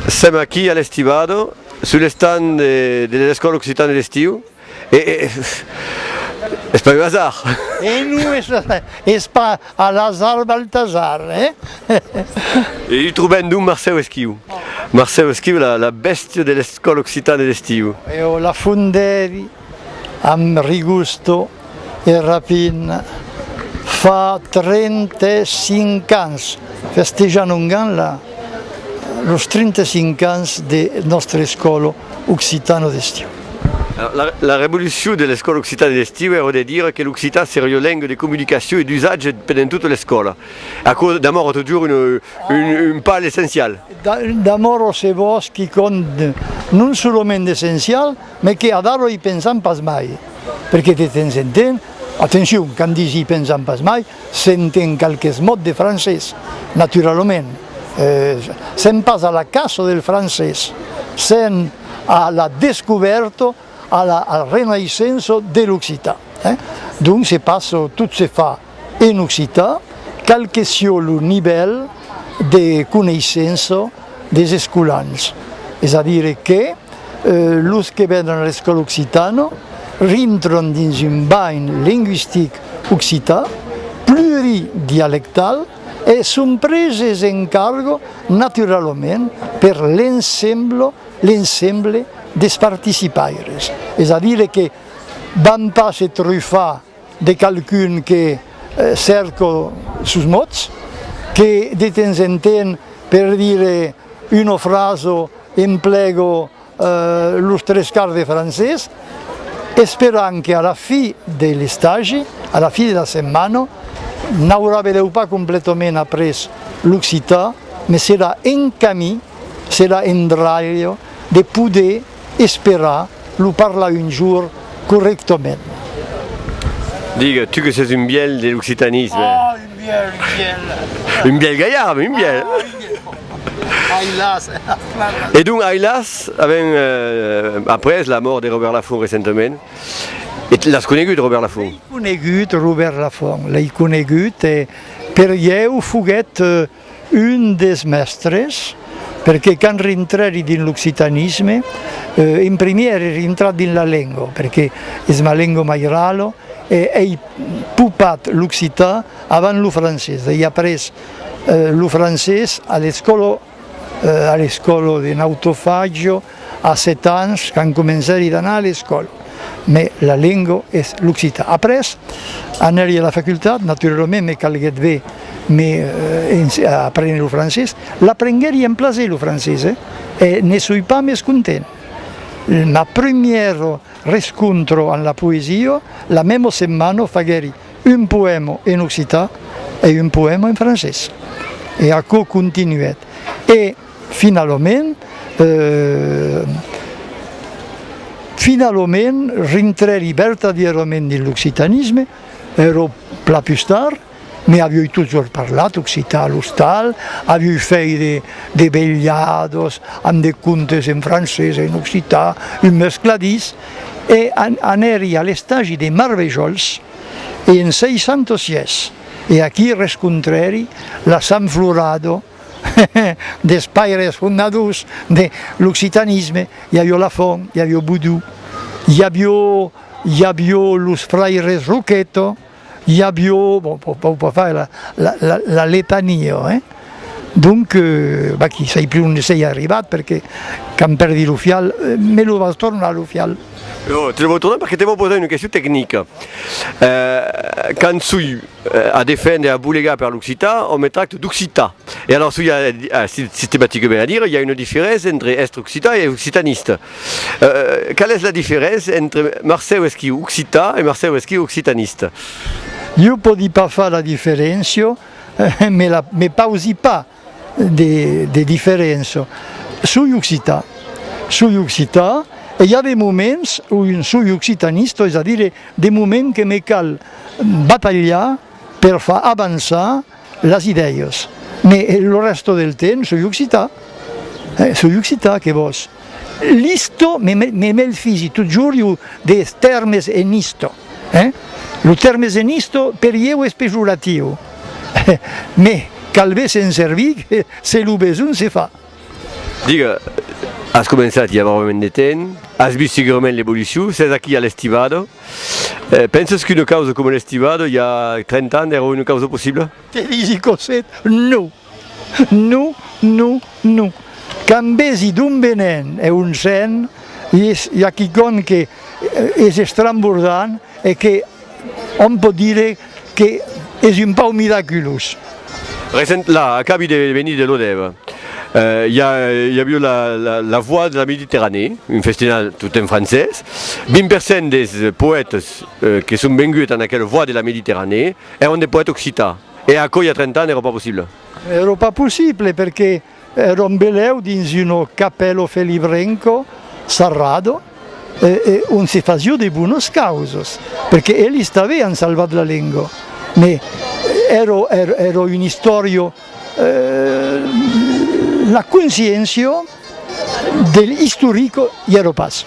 Sèm aquí a l'Estivado, sul estand de l'Escòla Occitana de l'Estiu, e es pas un hasard! E non es pas a l'hasard Baltasar, eh! E i trobèm donc Marcèu Esquiu. Marcèu Esquiu, la bèstia de l'Escòla Occitana de l'Estiu. E o la fondèri. Amb Rigusto e Rapin, fa 35 ans, festejan ongan los 35 ans de nòstre escòlo occitano d'estiu. La revolucion de l'escòla occitana d'estiu èra de dire que l'occitan seria ua lenga de comunicacion e d'usatge pendent tota l'escòla. Aquò demòra totjorn un pas essencial. Demòra se vòs quicòm non solament d'essencial, Mes que a Daro i pensam pas mai, perque de temps en temps, atencion, quand dis i pensam pas mai, s'enten qualques mots de francés, naturalament, sèm pas a la caça del francés, sèm a la descubèrta, a la renaissença de l'occitan, donc se pas tot se fa. En occitan, cal que sieu lo nivèl de coneissença des escolans, es a dire que los que vènen a l'escòla occitana rintran dins un banh lingüistic occitan pluridialectal e son preses en carga naturalament per l'ensemble des participaires, es a dire que van pas se trufar de qualqu'un que cerco sos mots, que de temps en temps per dire una frasa emplego los tres quarts de francés, esperant que a la fi de l'estagi, a la fi de la setmana, n'aurà benlèu pas completament après l'occitan, mès serà en camí, serà en dralha de poder Espera lo parlar un jour correctament. Digue, tu que ses un bièlh de l'occitanisme. Oh, un bièlh, un bièlh. Un bièlh galhard, mais un bièlh. Ah, un bièlh, bon, bon. Ai las, ai las flamas. E donc, ai las, avèm après la mòrt de Robèrt Lafont recentament, e l'as conegut, Robèrt Lafont? L'ai conegut, Robèrt Lafont, l'ai conegut, e per ieu foguèt. Un des mèstres, perqué quand rintrèri dins l'occitanisme, en primièr es rintrat dins la lenga, perqué es ma lenga mairala, e ei popat l'occità avant lo francés, ei après lo francés a l'escòla, a l'escòla de Nautofagio, A sèt ans, quand comencèri d'anar a l'escòla, me la lenga es l'occitan. Après, anèri a la facultat, naturalament me calguèt be me aprene lo francés. L'aprenguèri en plaser lo francés e ne soi pas mes content. Ma primièra rescontra amb la poesia, la mema setmana faguèri un poèma en occitan e un poèma en francés. E aquò continuèt. E. Finalament, finalament, rintrè li vertadièrament dins l'occitanisme, ero plan pus tard, me avioi totjorn parlat occitan a l'ostal, avioi fèit de, de velhados amb de contes en francés e en occitan, un mescladís, e anèri a l'estagi de Marvejols en 606, e aquí rescontrèri la Sanflorado, des paires fondadors de l'occitanisme, i avió Lafont, i avió Boudou, i avió i avió los fraires Roqueto, i avió, bon, po po po fai la la la la letania, hein. Donc, vaquí, sai plus onde sei arribat perque quand perdi lo fial, me lo vas tornar lo fial? No, te lo vò tornar perque te vò posar una question tecnica. Quand soi A defendre, a bolegar per l'occitan, òm me tracte d'occitan. E alòrs ui a sistematicament a dire, i a una diferéncia entre èstre occitan e occitaniste. Qual es la diferéncia entre Marcèu Esquiu occitan e Marcèu Esquiu occitaniste? Iu pòdi pas far la diferéncia, me pausi pas. de diferença soi occitan, soi occitan e i a de moments o un soi occitanista, es a dire de moments que me cal batalhar per far avançar las idèias, mai lo rèsta del temps soi occitan, soi occitan que vòs. L'isto me melfisi totjorn jo des tèrmes en isto. Lo tèrmes en isto per ieu es pejoratiu, me calbé se'n servir se lo besonh se fa. Digue, as començat i a barrament de temps, as vist segurament l'evolucion, s'es aquí a l'estivado. Penses qu'una causa coma l'estivado i a 30 ans èra una causa possibla? Te disi, Cosette, non! Non, non, non. Quand vesi d'on venen e on sen, i a quicòm que es estrambordant e que òm pòt dire que es un pauc miraculós. Recent, la, acabi de venir de Lodève. I a aviu la, la voix de la Méditerranée, un festinal tot en francés. 20 per cent des poètes que son venguts en aquel voix de la Méditerranée èran de poètes occitans. E aquò i a 30 ans èra pas possible. Èra pas possible perque èra un belèu dins un capello felibrenco sarrado e ont se fasió de bonas causas, perque elis t'avián salvat la lenga, me èra un istòria, la consciéncia de l'istorico i èra pas.